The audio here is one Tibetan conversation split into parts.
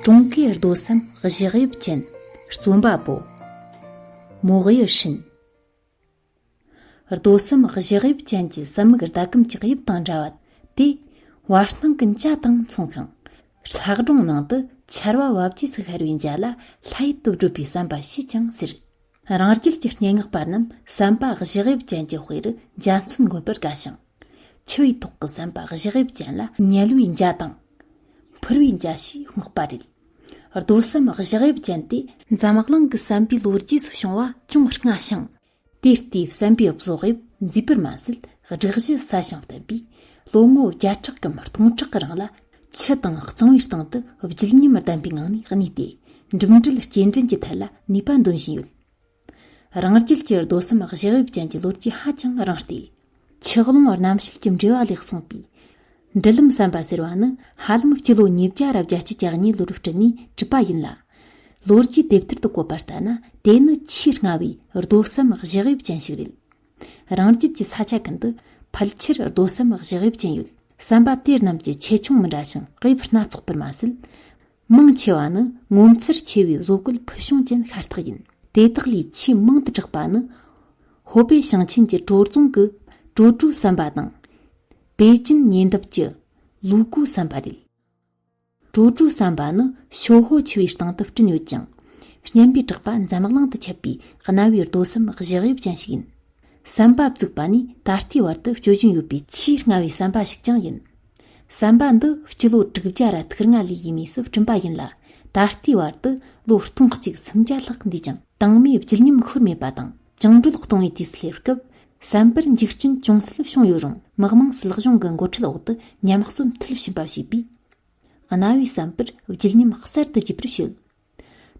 ཀྲུང་གོའི་རྡོ་སམ་གཞག་དབྱིབས་ཅན་རྩོམ་པ་པོ་མོག་ཡེ་ཧྲིན། རྡོ་གསུམ་བཞི་དབྱིབས་ཅན་གྱི་གསུམ་མིག་ཟླ་གམ་ལྕགས་དབྱིབས་དང་འདྲ་བ་སྟེ། བར་སྣང་གི་འཇའ་དང་མཚུངས་ཤིང། ལྷག་སྒྲུང་ནང་དུ་ཆར་བ་བབས་རྗེས་སུ་ཤར་བའི་འཇའ་ལ་ལྷའི་སྟོབས་བསྒྲུབ་པའི་བསམ་པ་ཞེས་ཀྱང་ཟེར། རང་རྒྱལ་གྱི་སྙན་ངག་པ་རྣམས་བསམ་པ་བཞི་དབྱིབས་ཅན་གྱི་དཔེ་རུ་འཇའ་མཚོན་དགོན་པར་དགའ་ཞིང། འཆི་བའི་ཐོག་གི་བསམ་པ་བཞི་དབྱིབས་ཅན་ལ་ཉལ་བའི་འཇའ་དང། འཕུར་བའི་འཇའ་ཞེས་སྨག་པ་རེད། རྡོ་གསུམ་བཞག་དབྱིབས་ཅན་ཏེ། འཛམ་གླིང་གི་བསམ་པའི་ལོ་རྒྱུས་སུ་བྱུང་བ་ཅུང་སྔ་ཞིང། དེ་ལྟའི་བསམ་པའི་བཟོ་དབྱིབས་མཛེས་པར་མ་ཟད་སྒྲིག་གཞི་ཟབ་ཞིང་བརྟན་པས་ལོ་ངོ་བརྒྱ་ཕྲག་གམ་སྟོང་ཕྲག་གི་རིང་ལ་ཆུ་དང་གཙང་བའི་སྟེང་དུ་བརྒྱུད་ཉམས་ལྡན་པའི་ངང་ནས་གནས་ཏེ་འགྲིམ་འགྲུལ་སྐྱེལ་འདྲེན་གྱི་ཐད་ལ་ནུས་པ་འདོན་བཞིན་ཡོད། རང་རྒྱལ་གྱི་རྡོ་གསུམ་བཞི་དབྱིབས་ཅན་གྱི་ལོ་རྒྱུས་ཧ་ཅང་རིང་སྟེ། ཆགས་ཀློང་རྣམ་བཤད་ཀྱི་འགྲེལ་བ་ལས་གསུངས་པའི། འབྲི་ལམ་བསམ་པ་ཟེར་བ་ནི་ཧ་ལམ་སྤྱི་ལོ་ཉིས་བརྒྱ་རབས་བརྒྱ་སྤྱི་གྱ་གཉིས་ལོར་བྲིས་ནས་གྲུབ་པ་ཡིན་ལ། ལོ་རྒྱུས་དེབ་ཐེར་དུ་བཀོད་པ་ལྟར་ན་དེ་ནི་ཆེས་སྔ་བའི་རྡོ་གསུམ་བཞི་དབྱིབས་ཅན་ཞིག་རེད། རང་རྒྱལ་གྱི་ས་ཆ་ཀུན་ཏུ་ཕལ་ཆེར་རྡོ་གསུམ་བཞི་དབྱིབས་ཅན་ཡོད་བསམ་པ་དེ་རྣམས་ཀྱི་ཆེ་ཆུང་མི་འདྲ་ཞིང་དབྱིབས་སྣ་ཚོགས་པར་མ་ཟད། མང་ཆེ་བ་ནི་ངོ་མཚར་ཆེ་བའི་བཟོ་བཀོད་ཕུལ་བྱུང་ཅན་ཤ་སྟག་ཡིན། དེ་དག་ལས་ཆེས་མང་དུ་གྲགས་པ་ནི། ཧོ་པེ་ཞིང་ཆེན་གྱི་བྲོ་རྫོང་གི་བྲོ་གྲུའི་བསམ་པ་དང། པེ་ཅིན་ཉེ་འདབས་ཀྱི་ལུའུ་གུའི་བསམ་པ་རེད། བྲོ་གྲུའི་བསམ་པ་ནི་ཞོ་ཧོ་ཆུ་བོའི་སྟེང་དུ་བསྐྲུན་ཡོད་ཅིང། བརྙན་པའི་གྲགས་པ་འཛམ་གླིང་དུ་ཁྱབ་པའི་གནའ་བོའི་རྡོ་གསུམ་གཞག་དབྱིབས་ཅན་ཞིག་ཡིན། བསམ་པ་བཙུགས་པ་ནི་ད་ལྟའི་བར་དུ་སྤྱོད་བཞིན་ཡོད་པའི་ཆེས་སྔ་བའི་བསམ་པ་ཞིག་ཀྱང་ཡིན། བསམ་པ་འདི་སྤྱི་ལོ་དྲུག་བརྒྱ་ར་ཐུག་རྔ་ལི་ཡི་གནས་སུ་བསྐྲུན་པ་ཡིན་ལ་ད་ལྟའི་བར་དུ་ལོ་སྟོང་གཅིག་སུམ་བརྒྱ་ལྷག་འདས་ཀྱང་དྭངས་མའི་བརྗིད་ཉམས་ཤོར་མེད་པ་དང་བཅིངས་འགྲོལ་གཏོང་བའི་དུས་སླེབས་སྐབས་བསམ་པར་འཇིགས་སྐྲུན་ཅུང་ཟད་བྱུང་ཡོད་རུང་དམག་དམངས་སྲིད་གཞུང་གི་འགོ་ཁྲིད་འོག་ཏུ་ཉམས་གསོ་མཐིལ་ཕྱིན་པ་བྱས་པས་གནའ་བོའི་བསམ་པར་བརྗིད་ཉམས་གསར་དུ་རྒྱས་པར་བྱེད།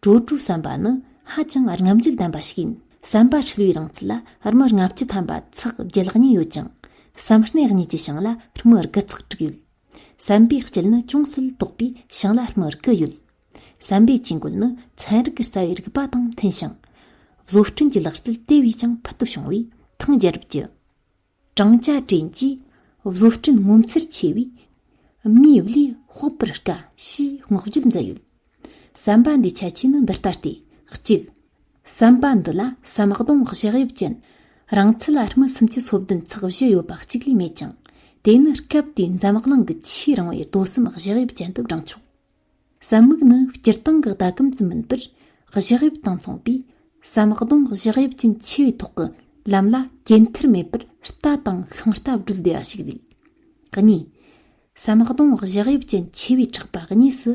བྲོ་བྲོ་བསམ་པ་ནི་ཧ་ཅང་རྔམ་བརྗིད་ལྡན་པ་ཞིག་ཡིན། བསམ་པ་འཁྲུལ་བའི་རིང་ཚད་ལ་རྨི་ལྔ་བཅུ་ཐམ་པ་ཚགས་བརྒྱད་ལྷག་གཉིས་ཡོད་ཅིང། བསམ་སྣེ་གཉིས་ཀྱི་ཞིང་ལ་རྨི་དགུ་ཚགས་དྲུག་ཡོད། བསམ་པའི་དཀྱིལ་ནི་ཅུང་ཟད་དོག་པའི་ཞིང་ལ་རྨི་དགུ་ཡོད། བསམ་པའི་དཀྱིལ་འགོལ་ནི་ཚན་རིག་གི་རྩ་བའི་རིགས་པ་དང་མཐུན་ཞིང། བཟོ་སྐྲུན་གྱི་ལག་རྩལ་དེ་བས་ཀྱང་ཕུལ་དུ་བྱུང་བས་ཐང་རྒྱལ་རབས་ཀྱི། བགྲང་བྱ་དྲན་གྱིས་བཟོ་སྐྲུན་ངོ་མཚར་ཆེ་བས། མིའི་བློས་དཔོག་པར་དཀའ་ཞེས་བསྔགས་བརྗོད་མཛད་ཡོད། བསམ་པ་འདིའི་ཁྱད་ཆོས་ནི་འདི་ལྟ་སྟེ། གཅིག། བསམ་པ་འདི་ལ་ཟམ་གདོང་བཞག་དབྱིབས་ཅན། རང་ཚུགས་ལ་སྨི་གསུམ་གྱི་སོ་བདུན་ཚགས་བཞི་ཡོད་པ་གཅིག་ལས་མེད་ཅིང། དེ་ནི་སྐབས་དེའི་འཛམ་གླིང་གི་ཆེས་རིང་བའི་རྡོ་གསུམ་བཞག་དབྱིབས་ཅན་དུ་བགྲངས་ཆོག། ཟམ་མུག་ནི་སྤྱིར་བཏང་གི་ཟླ་གམ་ཙམ་མིན་པར་གཞི་དབྱིབས་དང་མཚུངས་པས་ཟམ་གདོང་གཞི་དབྱིབས་ཅན་ཆེ་བའི་ཐོག་གི་ལམ་ལ་སྐྱེ་མཐར་མེད་པར་རྟ་དང་ཤིང་རྟ་བགྲོད་བདེ་བ་ཞིག་རེད། གཉིས། ཟམ་གདོང་གཞི་དབྱིབས་ཅན་ཆེ་བའི་འཕྲག་པ་གཉིས་སུ་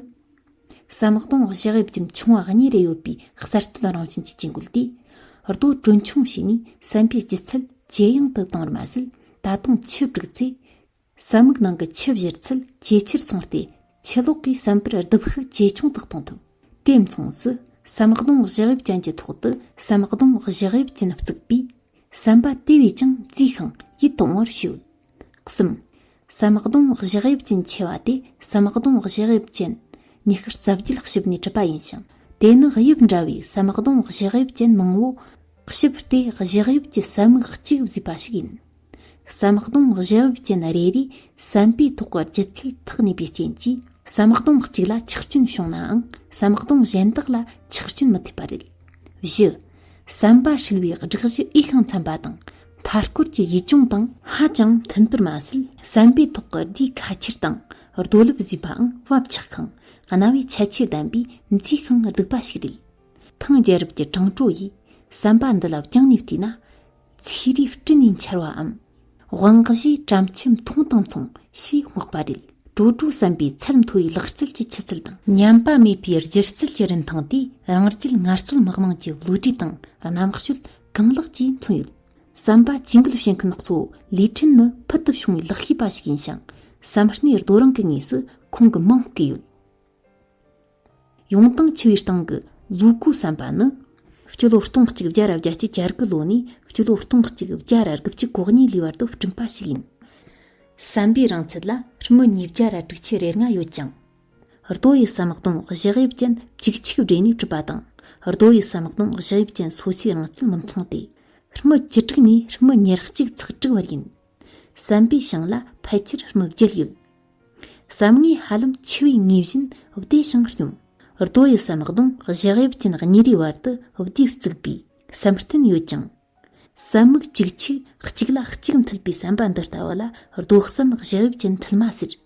ཟམ་གདོང་གཞི་དབྱིབས་ཅན་ཆུང་བ་གཉིས་རེ་ཡོད་པའི་གསར་གཏོད་རང་བཞིན་གྱི་ཇུས་འགོད་དེ་རྡོ་གྲོན་ཆུང་བྱས་ནས་ཟམ་པའི་ལྗིད་ཚད་ཇེ་ཡང་དུ་བཏང་བར་མ་ཟད་ད་དུང་ཆུ་བསྒྲིགས་ཚེ་ཟ་མིག་ནང་གི་ཆུ་གཞིར་ཚད་ཇེ་ཆེར་སོང་སྟེ་ཆུ་ལོག་གིས་བསམ་པར་རྡིབ་ཤུགས་ཇེ་ཆུང་དུ་གཏོང་ཐུབ། དེ་མཚུངས་སུ་ཟམ་གདོང་བཞག་དབྱིབས་ཅན་གྱི་ཐོག་ཏུ་ཟམ་གདོང་བཞག་དབྱིབས་ཅན་བརྩིགས་པས། ཟམ་པ་དེ་བས་ཀྱང་བརྩིགས་ཤིང་ཡིད་དུ་འོང་བར་བྱོས། གསུམ། ཟམ་གདོང་བཞག་དབྱིབས་ཅན་ཆེ་བ་དེ་ཟམ་གདོང་བཞག་དབྱིབས་ཅན། ཉི་ཤུར་རྩ་བརྒྱུད་བཤིབས་ནས་གྲུབ་པ་ཡིན་ཞིང་དེ་ནི་དབྱིབས་འདྲ་བའི་ཟམ་གདོང་བཞག་དབྱིབས་ཅན་མང་བོ། བཤིབས་ཏེ་བཞག་དབྱིབས་ཀྱི་ཟམ་མིག་གཅིག་བཟོས་པ་ཞིག་ཡིན། ཟམ་གདོང་བཞི་བབས་ཅན་རེ་རེས་བསམ་པའི་ཐོག་གི་ལྗིད་ཚད་ཐག་ཉེ་བའི་རྐྱེན་གྱིས་ཟམ་གདོང་གཅིག་ལ་ཆག་སྐྱོན་བྱུང་ནའང་ཟམ་གདོང་གཞན་དག་ལ་ཆག་སྐྱོན་མི་ཐེབས་པ་རེད། བཞི། བསམ་པ་ཧྲིལ་བོའི་སྒྲིག་གཞི་འོས་ཤིང་འཚམ་པ་དང་མཐའ་སྐོར་གྱི་ཡིད་སྐྱོང་དང། ཧ་ཅང་མཐུན་པར་མ་ཟད་བསམ་པའི་ཐོག་གི་སྡེ་ཁ་ཁྱེར་དང་རྡོ་ལུབ་བཟོས་པའང་བབ་ཆགས་ཤིང་གནའ་བོའི་ཁྱད་ཆོས་ལྡན་པའི་མཛེས་ཤིང་སྡུག་པ་ཞིག་རེད། ཐང་རྒྱལ་རབས་ཀྱི་དྲང་བྲོ་ཡིས་བསམ་པ་འདི་ལ་བསྐྱངས་ནས་བལྟས་ན། ཚེའི་རིགས་སྤྲིན་ནས་འཆར་བའམ། དབང་བཞི་བྲམ་ཁྱིམ་མཐོང་དང་མཚུངས་ཞེས་བསྔགས་པ་རེད། དྲོ་དྲོ་བསམ་པའི་ཚད་མཐོ་བའི་ལག་རྩལ་གྱི་ཆུ་ཚད་དང། ཉམས་པ་མེད་པའི་སྒྱུ་རྩལ་གྱི་རིན་ཐང་དེ་རང་རྒྱལ་ངལ་རྩོལ་དམག་དམངས་ཀྱི་བློ་གྲོས་དང་རྣམ་དཔྱོད་གང་ལེགས་ཀྱིས་མཚོན་ཡོད། བསམ་པ་ཇུས་འགོད་བྱེད་མཁན་སྣ་ཚོགས་ལས་འཕྲིན་ནི་ཕུལ་དུ་བྱུང་བའི་ལག་ཤེས་པ་ཞིག་ཡིན་ཞིང་བསམ་སྣེ་རྡོ་རིང་གི་ངོས་སུ་ཁོང་གི་མིང་བརྐོས་ཡོད། ཡོང་སྟངས་འཆི་བའི་སྟེང་གི་ལུག་གུ་བསམ་པ་ནི། སྤྱི་ལོ་སྟོང་གཅིག་བརྒྱ་རབས་བརྒྱ་སྐྱེ་བརྒྱ་རྒུ་ལོ་ནས་སྤྱི་ལོ་སྟོང་གཅིག་བརྒྱ་ར་དགུ་བཅུ་གོ་གཉིས་ལོའི་བར་དུ་བསྐྲུན་པ་ཞིག་ཡིན། བསམ་པའི་རིང་ཚད་ལ་རྨི་ཉིས་བརྒྱ་ར་དྲུག་ཆུ་རེ་ལྔ་ཡོད་ཅིང། རྡོ་ཡི་སམ་སྟོང་བཞི་དབྱིབས་ཅན་བཅུ་གཅིག་སྦྲེལ་ནས་གྲུབ་པ་དང། རྡོ་ཡི་སམ་སྟོང་བཞི་དབྱིབས་ཅན་སོ་སོའི་རིང་ཚད་མི་མཚུངས་ཏེ། རྨི་བཅུ་དྲུག་ནས་རྨི་ཉེར་གཅིག་ཚགས་དྲུག་བར་ཡིན། བསམ་པའི་ཞིང་ལ་ཕལ་ཆེར་སྨུག་རྒྱུ་ཡོད། བསམ་ངོས་ཧ་ལམ་འཆི་བའི་ངོས་བཞིན་བདེ་ཞིང་སྙོམས། རྡོ་ཡི་སེམས་གདོང་བཞི་དབྱིབས་ཅན་གཉིས་རེའི་བར་དུ་བདུད་བཙུགས་པའི་སེམས་རྟེན་ཡོད་ཅིང། བསམ་སྨུག་གཅིག་ཆུ་གཅིག་ལ་གཅིག་མཐུད་པའི་བསམ་པ་འདི་ལྟ་བུ་ལ་རྡོ་སེམས་བཞི་དབྱིབས་ཅན་མཐུད་མ་ཟེར།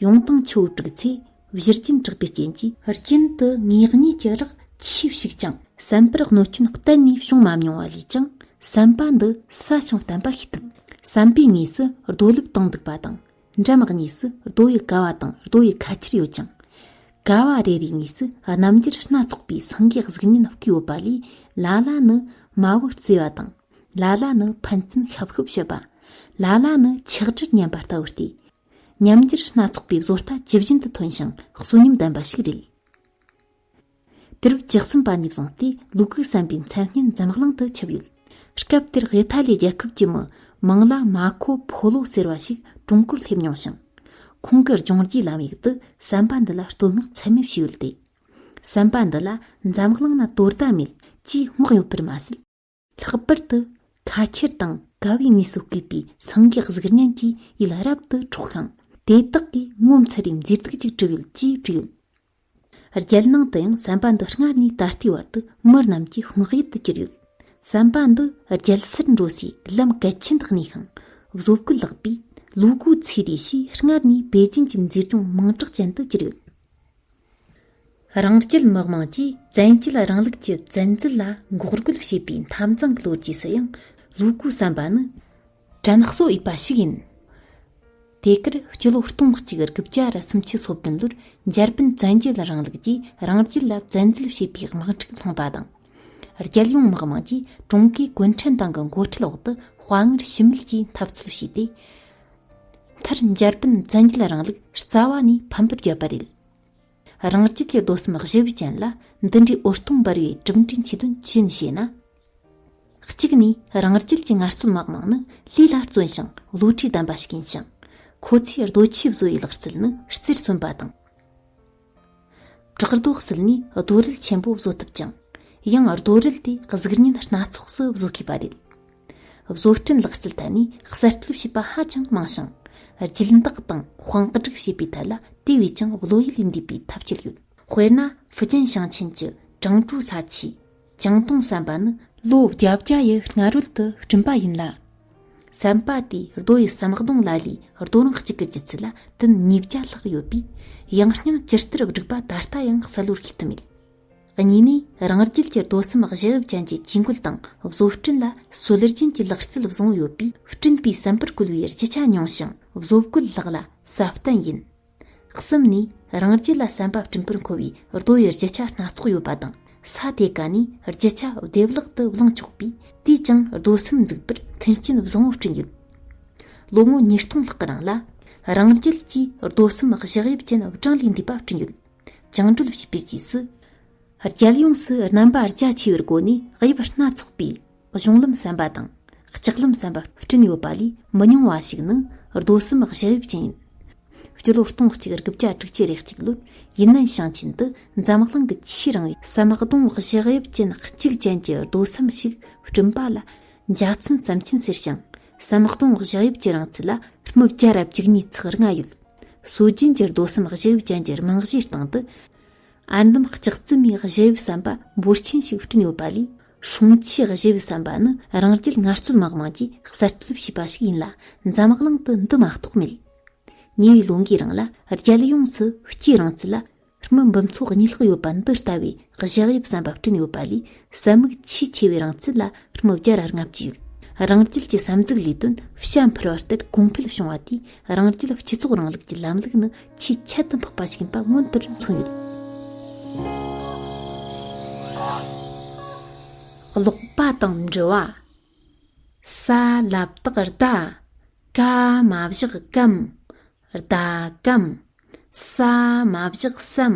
ཡོངས་བཏང་ཆུ་བོ་དྲུག་ཚེ་བཞིར་གྱེན་དྲགས་པའི་རྐྱེན་གྱིས། རྐྱེན་དུ་ངེས་གཉིས་ཀྱི་རགས་ཆོད་ཞིག་ཅིང། བསམ་པར་གནོད་སྐྱོན་གཏན་ནས་བྱུང་མ་མྱོང་བ་ལས་ཀྱང་བསམ་པ་འདི་ས་ཆིངས་བསྟན་པ་ཤེས་ཐུབ། བསམ་པའི་ངོས་སུ་རྡོ་ལུབ་དང་འདུག་པ་དང། འགྲམ་གཉིས་སུ་རྡོ་ཡི་ཀ་བ་དང་རྡོ་ཡི་ཁ་ཁྱེར་ཡོད་ཅིང། ཀ་བ་རེ་རེའི་ངོས་སུ་རྣམ་རྒྱལ་སྣ་ཚོགས་པའི་སེང་གེའི་གཟུགས་བརྙན་བརྐོས་ཡོད་པ་ལས་ལ་ལ་ནི་མ་བུ་བརྩེ་བ་དང། ལ་ལ་ནི་ཕན་ཚུན་ཤབ་ཤུབ་བྱེད་པ། ལ་ལ་ནི་ཆགས་འདྲིར་ཉན་པ་ལྟ་བུ་སྟེ། ཉམས་འགྱུར་སྣ་ཚོགས་པའི་བཟོ་ལྟ་ཇི་བཞིན་དུ་ཐོན་ཞིང་གསོན་ཉམས་ལྡན་པ་ཞིག་རེད། དུས་རབས་བཅུ་གསུམ་པ་ནས་བཟུང་སྟེ་ལུག་གུ་བསམ་པའི་མཚན་སྙན་འཛམ་གླིང་དུ་ཁྱབ་ཡོད། སྐབས་དེར་ཝེ་ཐ་ལི་རྒྱལ་ཁབ་ཀྱི་མི་མང་ལ་མ་ཁོ་ཕོ་ལོ་ཟེར་བ་ཞིག་ཀྲུང་གོར་སླེབས་མྱོང་ཞིང། ཁོང་གི་ལྗོངས་རྒྱུའི་ལམ་ཡིག་ཏུ་བསམ་པ་འདི་ལ་བསྟོད་བསྔགས་ཚད་མེད་ཞུས་ཡོད་དེ། བསམ་པ་འདི་ལ་འཛམ་གླིང་ན་དོ་ཟླ་མེད་ཅེས་བསྔགས་ཡོད་པར་མ་ཟད། ལྷག་པར་དུ་ཁ་ཁྱེར་དང་དགའ་བའི་ངལ་གསོ་སྐུལ་པའི་སངས་རྒྱས་གཟུགས་བརྙན་གྱི་ཡུལ་རབ་ཏུ་འཕྲོག་ཀྱང་དེ་དག་གིས་ངོ་མཚར་བའི་མཛེས་སྡུག་ཅིག་བྲི་ཡོད་ཅེས་བྲིས་ཡོད། རྒྱལ་ནང་དུ་ཡང་བསམ་པ་འདི་སྔར་ནས་ད་ལྟའི་བར་དུ་མི་རྣམས་ཀྱི་བསྔགས་ཡུལ་དུ་གྱུར་ཡོད། བསམ་པ་འདི་རྒྱལ་སར་འགྲོ་སའི་ལམ་གལ་ཆེན་དུ་གནས་ཤིང་བཟོ་བཀོད་ལགས་པས་ལུ་གུ་ཚེ་ལྡེ་ཞེས་སྔར་ནས་པེ་ཅིན་གྱི་མཛེས་ལྗོངས་མིང་གྲགས་ཅན་དུ་གྱུར་ཡོད། རང་སྐྱིད་དམག་དམངས་ཀྱིས་བཙན་བྱོལ་རིང་ལུགས་ཀྱི་བཙན་འཛུལ་ལ་འགོག་རྒོལ་བྱས་པའི་འཐབ་འཛིང་གི་ལོ་རྒྱུས་སུ་ཡང་ལུ་གུ་བསམ་པ་ནི་དྲན་གསོ་འོས་པ་ཞིག་ཡིན། དེ་གར་སྤྱི་ལོ་སྟོང་གཅིག་དགུ་བརྒྱ་ར་སུམ་ཅུ་སོ་བདུན་ལོར་འཇར་པན་བཙན་བྱོལ་རིང་ལུགས་ཀྱིས་རང་རྒྱལ་ལ་བཙན་འཛུལ་བྱས་པའི་དམག་འཁྲུག་སློང་པ་དང། རྒྱལ་ཡོངས་དམག་དམངས་ཀྱིས་ཀྲུང་གོའི་གུང་ཁྲན་ཏང་གི་མགོ་ཁྲིད་འོག་ཏུ་དཔའ་ངར་ཞུམ་མེད་ཀྱིས་འཐབ་རྩོད་བྱས་ཏེ། མཐར་འཇར་པན་བཙན་རྒྱལ་རིང་ལུགས་རྩ་བ་ནས་ཕམ་པར་བརྒྱབ་པ་རེད། རང་རྒྱལ་གྱི་རྡོ་གསུམ་གཞི་བུ་ཅན་ལ་འདི་འདྲའི་འུར་སྟོང་འབར་བའི་གྲུབ་འབྲས་མཆིས་དོན་ཅི་ཡིན་ཞེ་ན། གཅིག་ནས་རང་རྒྱལ་གྱི་ངལ་རྩོལ་མ་མང་ནི་ལུས་ལ་བརྩོན་ཞིང་བློ་གྲོས་ལྡན་པ་ཞིག་ཡིན་ཞིང། ཁོ་ཚོས་རྡོ་ཆས་བཟོ་བའི་ལག་རྩལ་ནི་རྩེར་སོན་པ་དང། བྲག་རྡོ་བསིལ་ནས་རྡོ་རིལ་ཆེན་པོ་བཟོ་ཐུབ་ཀྱང་ཡང་རྡོ་རིལ་དེ་གཟུགས་བརྙན་སྣ་ཚོགས་སུ་བཟོ་ཤེས་པ་རེད། བཟོ་སྐྲུན་ལག་རྩལ་ཐད་ནས་གསར་གཏོད་བྱས་པ་ཧ་ཅང་མང་ཞིང། སྦྱིན་བདག་དང་དཔང་སྒྲིག་བྱེད་པའི་ཐད་ལ་དེ་བས་ཀྱང་བློ་ཡུལ་འདས་པའི་ཐབས་ཤེས་ཡོད། དཔེར་ན་ཧྥུ་ཅན་ཞིང་ཆེན་གྱི་ཀྲང་ཀྲོའུ་ས་ཆའི་བྱང་སྟོང་བསམ་པ་ནི་ལོ་བརྒྱ་བརྒྱ་ཡི་སྔ་རོལ་དུ་བསྐྲུན་པ་ཡིན་ལ། བསམ་པ་དེ་རྡོ་ཡི་བསམ་གདོང་ལ་ལའི་རྡོ་རིང་གཅིག་གི་ལྗིད་ཚད་ལ་ཏིན་ཉིས་བརྒྱ་ལྷག་ཡོད་པས་ཡང་སྙིང་ཇི་ལྟར་བསྒྲིགས་པ་ད་ལྟ་ཡང་གསལ་བོར་ཤེས་ཐུབ་མེད། གཉིས་ནས་རང་རྒྱལ་གྱི་རྡོ་གསུམ་བཞི་དབྱིབས་ཅན་གྱི་ཇུས་འགོད་དང་བཟོ་སྐྲུན་ལ་སྲོལ་རྒྱུན་གྱི་ལག་རྩལ་བཟུང་ཡོད་པས་སྐྲུན་པའི་བསམ་པར་བཀོལ་བའི་རྒྱུ་ཆ་ཉུང་ཞིང་བཟོ་བཀོད་ལྷག་ལ་གསབ་བརྟན་ཡིན། གསུམ་ནས་རང་རྒྱལ་ལ་བསམ་པ་སྤྲིན་པར་འཁོར་བའི་རྡོ་ཡི་རྒྱུ་ཆ་སྣ་ཚོགས་ཡོད་པ་དང་ས་དེ་ག་ནས་རྒྱུ་ཆ་བདེ་བླག་ཏུ་བླངས་ཆོག་པས་དུས་ཀྱང་རྡོ་སེམས་འཛུགས་པར་མཐུན་རྐྱེན་བཟང་བོ་བསྐྲུན་ཡོད། ལོ་ངོ་ཉིས་སྟོང་ལྷག་གི་རིང་ལ་རང་རྒྱལ་གྱིས་རྡོ་སེམས་བཞག་དབྱིབས་ཅན་བགྲང་ལས་འདས་པ་བསྐྲུན་ཡོད། བཅིངས་འགྲོལ་བྱས་པའི་རྗེས་སུ། རྒྱལ་ཡོངས་སུ་རྣམ་པ་རྒྱ་ཆེ་བའི་སྒོ་ནས་དབྱིབས་སྣ་ཚོགས་པའི། གཞུང་ལམ་བསམ་པ་དང་ལྕགས་ལམ་བསམ་པ་བསྐྲུན་ཡོད་པ་ལས་མི་ཉུང་བ་ཞིག་ནི་རྡོ་གསུམ་བཞི་དབྱིབས་ཅན་ཡིན། སྤྱི་ལོ་སྟོང་གཅིག་དགུ་བརྒྱ་དྲུག་ཅུ་རེ་གཅིག་ལོར་ཡུན་ནན་ཞིང་ཆེན་དུ་འཛམ་གླིང་གི་ཆེས་རིང་བའི་བསམ་པ་རྡོ་བཞི་དབྱིབས་ཅན་གཅིག་ཅན་གྱི་རྡོ་གསུམ་ཞིག་བསྐྲུན་པ་ལ་འཇའ་ཚོན་བསམ་ཆེན་ཟེར་ཞིང་བསམ་པ་རྡོ་བཞི་དབྱིབས་ཀྱི་རིང་ཚད་ལ་རྨུ་བརྒྱ་རབ་བྱུག་ཉིས་ཚིགས་ལྔ་ཡོད། སྲོལ་རྒྱུན་གྱི་རྡོ་གསུམ་བཞི་དབྱིབས་ཅན་གྱི་རྨང་གཞིའི་སྟེང་དུ་ཨར་འདམ་ལྕགས་རྩི་མའི་བཞི་དབྱིབས་བསམ་པ་འབོར་ཆེན་ཞིག་བསྐྲུན་ཡོད་པ་ལས་སྲུང་ཆས་བཞི་པའི་བསམ་པ་ནི་རང་རྒྱལ་ངལ་རྩོལ་དམག་དམངས་ཀྱིས་གསར་གཏོད་བྱས་པ་ཞིག་ཡིན་ལ་འཛམ་གླིང་དུ་འདི་མ་གཏོགས་མེད། ཉེ་བའི་ལོ་འགའི་རིང་ལ་རྒྱལ་ཡོངས་སུ་སྐྱེས་རིང་ཚད་ལ་མི་འབུམ་ཚོགས་གཉིས་ལྷག་ཡོད་པ་འདི་ལྟ་བུའི་བཞག་དབྱིབས་བསམ་པ་བསྐྲུན་ཡོད་པ་ལས་ཟད་མིག་ཆེས་ཆེ་བའི་རིང་ཚད་ལ་མི་བརྒྱ་ར་ལྔ་བཅུ་ཡོད། རང་རྒྱལ་གྱི་བསམ་གཟུགས་ལས་དོན་བྱ་འཕུར་བ་ལྟར་གོང་འཕེལ་བྱུང་བ་དེས་རང་རྒྱལ་སྤྱི་ཚོགས་རིང་ལུགས་ཀྱི་ལམ་ལུགས་ནི་ཆེས་ཁྱད་དུ་འཕགས་པ་ཞིག་ཡིན་པ་མངོན་པར་མཚོན་ཡོད། ཀློག་པ་དང་འབྲི་བ། ས་བསླབ་དག་རྟ་ཀ་མ་བཞག་གམ། རྟ་ཀམ། ས་མ་བཞག་སམ།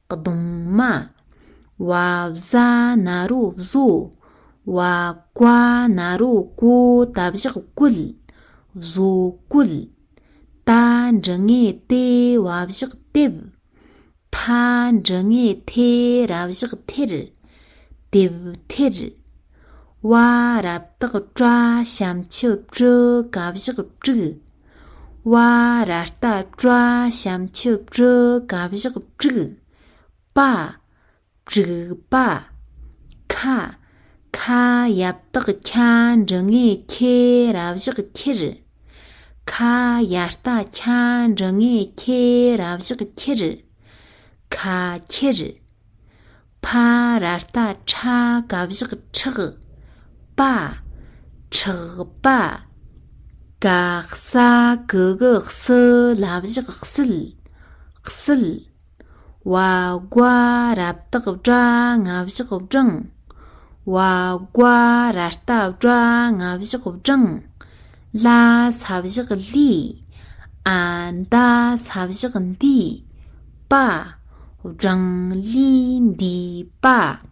གདུང་མ། བ་བཟའ་ན་རོ་བཟོ། བ་བཀའ་ན་རོ་བཀོ་ད་བཞག་བཀོད། བཟོ་བཀོད། ད་འབྲི་ངེས་ཏེ་བ་བཞག་དེབ། ཐ་འབྲི་ངེས་ཐེ་ར་བཞག་ཐེར། དེབ་ཐེར། བ་རབ་སྟག་བཀྲ་བྱམས་ཆུ་བཀྲུ་གབ་བཞག་དཀྲུག། བ་ར་རྟ་བཀྲ་བྱམས་ཆུ་བཀྲུ་གབ་བཞག་དཀྲུག། པ་དཀྲུག་པ། ཁ་ཁ་ཡབ་སྟག་ཁ་འབྲི་ངས་ཁེ་རབ་བཞག་ཁྱེར། ཁ་ཡ་རྟ་ཁ་འབྲི་ངས་ཁེ་རབ་བཞག་ཁྱེར། ཁ་ཁྱེར། ཕ་ར་རྟ་ཁྲ་ག་བཞག་ཁྲག་པ་ཁྲག་པ། ཀ་ས་ཀ་ག་སི་ལ་བཞག་སིལ་སིལ། བ་རྒ་ར་བཏགས་བྲ་ང་བཞག་བྲང་བ་རྒ་ར་རྟ་བྲ་ང་བཞག་བྲང། ལ་ས་བཞག་ལི། ཨ་མདའ་ས་བཞག་འདི། པ། བྲང་ལི་འདི་པ།